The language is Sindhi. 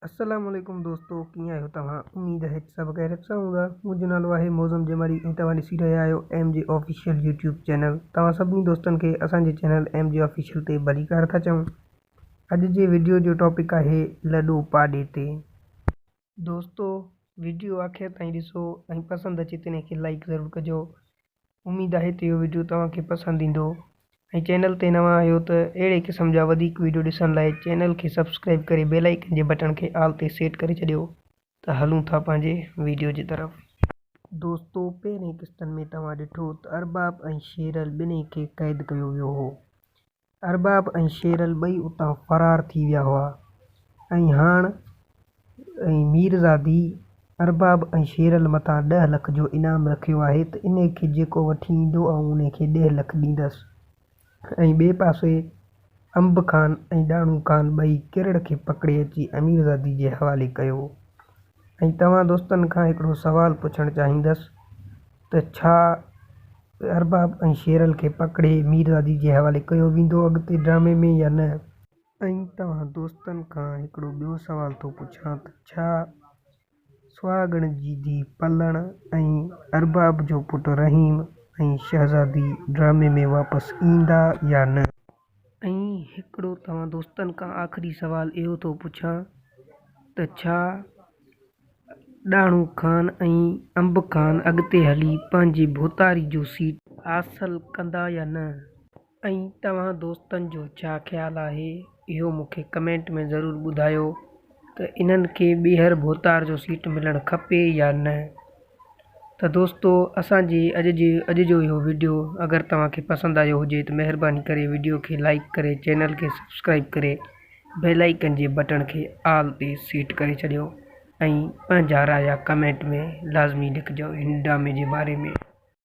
السلام عليڪم دوستو ڪيئن آهيو توهان اميد آهي ته سڀ خيريت سان هوندا منهنجو نالو آهي موزم جمالي ۽ توهان ڏسي رهيا آهيو M G official YouTube channel توهان سڀني دوستن کي اسان جي چينل ايم جي آفيشل تي ڀليڪار ٿا چئون اڄ جي ويڊيو جو ٽاپڪ آهي لڏو پاڏي تي دوستو ويڊيو آخر تائين ڏسو ۽ پسند اچي تنهن کي لائڪ ضرور ڪجو اميد آهي ته اهو وڊيو توهان کي پسند ايندو ۽ چينل تي نوان آهيو ته اهڙي قسم جا وڌيڪ وڊيو ڏسڻ لاء چينل کي سبسڪرائيب ڪري بيل آئيڪن جي بٽڻ کي آل تي سيٽ ڪري ڇڏيو ته هلون ٿا پنهنجي وڊيو جي طرف. دوستو پهرين قسطن ۾ توهان ڏٺو ته ارباب ۽ شيرل ٻنهي کي قيد ڪيو ويو هو ارباب ۽ شيرل ٻئي اتان فرار ٿي ويا هئا ۽ هاڻ ۽ ميرزادي ارباب ۽ شيرل مٿان ڏهه لک جو انعام رکيو آهي ته انهي کي جيڪو وٺي ايندو آئون انهي کي ڏهه لک ڏيندس ۽ ٻئي پاسي انب خان ۽ ڏاڻو خان ٻئي ڪرڙ کي پڪڙي اچي اميرزادي جي حوالي ڪيو. ۽ توهان دوستن کان هڪڙو سوال پڇڻ چاهيندس ته ڇا ارباب ۽ شيرل کي پڪڙي ميرزادي جي حوالي ڪيو ويندو اڳتي ڊرامي ۾ يا نه؟ ۽ توهان دوستن کان هڪڙو ٻيو سوال ٿو پڇان ته ڇا سهاڳڻ جي ڌي پلڻ ۽ ارباب جو پٽ رحيم ۽ شهزادي ڊرامي ۾ واپس ايندا يا نه؟ ائين هڪڙو توهان دوستن کان آخري سوال اهو ٿو پڇان ته ڇا ڏاڻو خان ۽ انب خان اڳتي هلي پنهنجي ڀوتاري جو سيٽ حاصل ڪندا يا نه ۽ توهان دوستن جو ڇا خيال آهي اهو مون کي ڪمينٽ ۾ ضرور ٻڌايو ته انهن کي ٻيهر ڀوتار جو سيٽ ملڻ کپي يا نه. ته دوستو اسان جي اڄ جي اڄ جو اهو ويڊيو اگر توهان کي پسند آيو هجي ته مهرباني ڪري ويڊيو کي لائيڪ ڪري چينل کي سبسڪرائيب ڪري بيل آئيڪن جي بٽڻ کي آل تي سيٽ ڪري ڇڏيو ۽ پنهنجا رايا ڪمينٽ ۾ لازمي لکجو هن ڊرامي جي باري ۾.